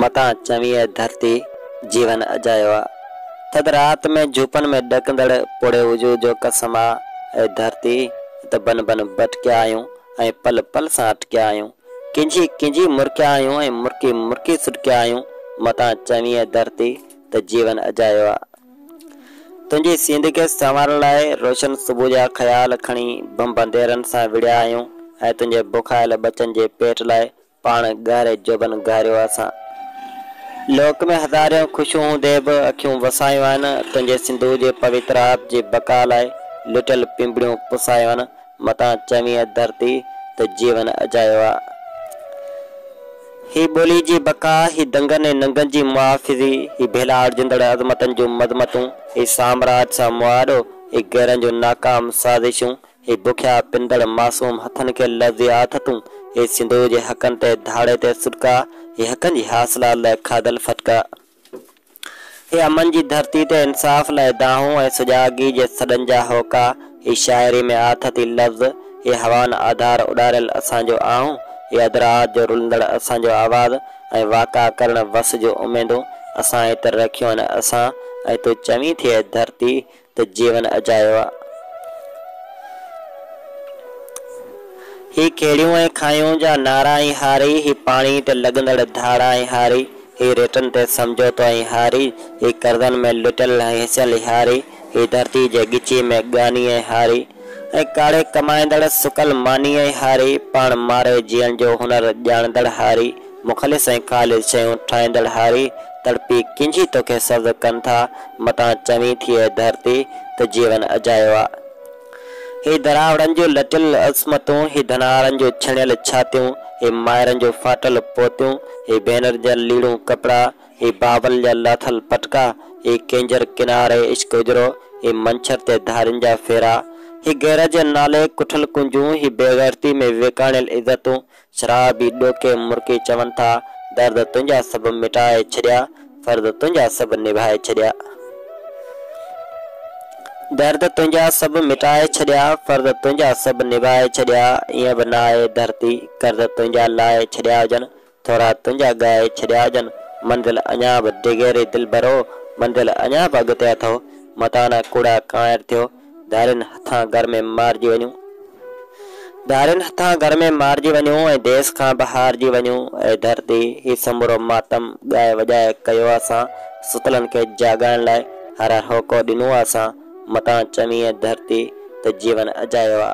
متان چوين اي ڌرتي، جيون اجايو آ. ٿڌ رات ۾ جهوپن ۾ ڏڪندڙ پوڙهي وجود جو قسم آ. اي ڌرتي، ته بنهه بنهه ڀٽڪيا آهيون ۽ پل پل سان اٽڪيا آهيون. ڪنجهي ڪنجهي مرڪيا آهيون ۽ مرڪي مرڪي سڏڪيا آهيون. متان چوين اي ڌرتي، ته جيون اجايو آ. تنهنجي سينڌ کي سنوارڻ لاء روشن صبح جا خيال کڻي بمب انديرن سان وڙهيا آهيون ۽ تنهنجي بکايل ٻچن جي پيٽ لاء پاڻ ڳهري جوڀن گهاريو اسان لوڪ ۾ هزارين خوشيون هوندي به اکيون وسايون آهن تنهنجي سنڌوء جي پويتر آب جي بقا لاء لٽيل پنبڻيون پسايون آهن متان چوين ڌرتي ته جيون اجايو آ. هي ٻولي جي بقا، هي دنگن ۽ ننگن جي محافظي، هي ڀيلاڙجندڙ عظمتن جون مذمتون، هي سامراج سان مواڏو، هي غيرن جون ناڪام سازشون، هي بکيا پندڙ معصوم هٿن کي لفظي آٿتون، هي سنڌوء جي حقن تي ڌاڙي تي سڏڪا، هي حقن جي حاصلات لاء کاڌل ڦٽڪا. هي امن جي ڌرتي تي انصاف لاء دانهون ۽ سجاڳي جي سڏن جا هوڪا، هي شاعري ۾ آٿتي لفظ، هي هوان آڌار اڏاريل اسان جو آهون، هي ادراعات جو رلندڙ اسان جو آواز ۽ واڪا ڪرڻ وس جون اميدون اسان ئي تر رکيون آهن، اسان ۽ تون چوين ٿي اي ڌرتي ته جيون اجايو آ. هي کهڙيون ۽ کانئون جا نعرا ۽ هاري، هي پاڻي تي لڳندڙ ڌاڙا ۽ هاري، هي ريٽن تي سمجهوتو ۽ هاري، هي قرضن ۾ لٽيل ۽ هيسيل هاري، هي ڌرتي جي ڳچيء ۾ ڳاني ۽ هاري ۽ ڪاڙهي ڪمائيندڙ سڪل ماني ۽ هاري، پاڻ ماري جيئڻ جو هنر ڄاڻندڙ هاري، مخلص ۽ خالص شيون ٺاهيندڙ هاري، تڙپي ڪنجهي توکي سبز ڪن ٿا، متان چوين ٿي اي ڌرتي، ته جيون اجايو آ. هي دراوڙن جون لٽيل عصمتون، هي ڌنارن جون ڇڻيل ڇاتيون، هي مائرن جون ڦاٽل پوتيون، هي ڀينرن جا ليڙون ڪپڙا، هي بابل جا لاٿل پٽڪا، هي ڪينجهر ڪناري عشق اجرو، هي منڇر تي ڌارين جا ڦيرا، هي غيرت جي نالي ڪٺل ڪنجون، هي بيغيرتي ۾ ويڪاڻيل عزتون، شرابي ڏوڪي مرڪي چون ٿا، درد تنهنجا سڀ مٽائي ڇڏيا، فرض تنهنجا سڀ نڀائي ڇڏيا. درد تنهنجا سڀ مٽائي ڇڏيا، فرض تنهنجا سڀ نڀائي ڇڏيا، ائين به نه آهي ڌرتي قرض تنهنجا لاهي ڇڏيا هجن، ٿورا تنهنجا ڳائي ڇڏيا هجن، منزل اڃا به ڊگهي ري دلبرو، منزل اڃا به اڳتي اٿئو، متان ڪوڙا ڪانئر ٿيو. ڌارين هٿان گهر ۾ مارجي وڃو ڌارين هٿان گهر ۾ مارجي وڃو ۽ ديس کان به هارجي وڃو اي ڌرتي هي سمورو ماتم ڳائي وڄائي ڪيو اسان ستلن کي جاڳائڻ لاء هر هر هوڪو ڏنو آ اسان متان چوين اي ڌرتي ته جيون اجايو آ.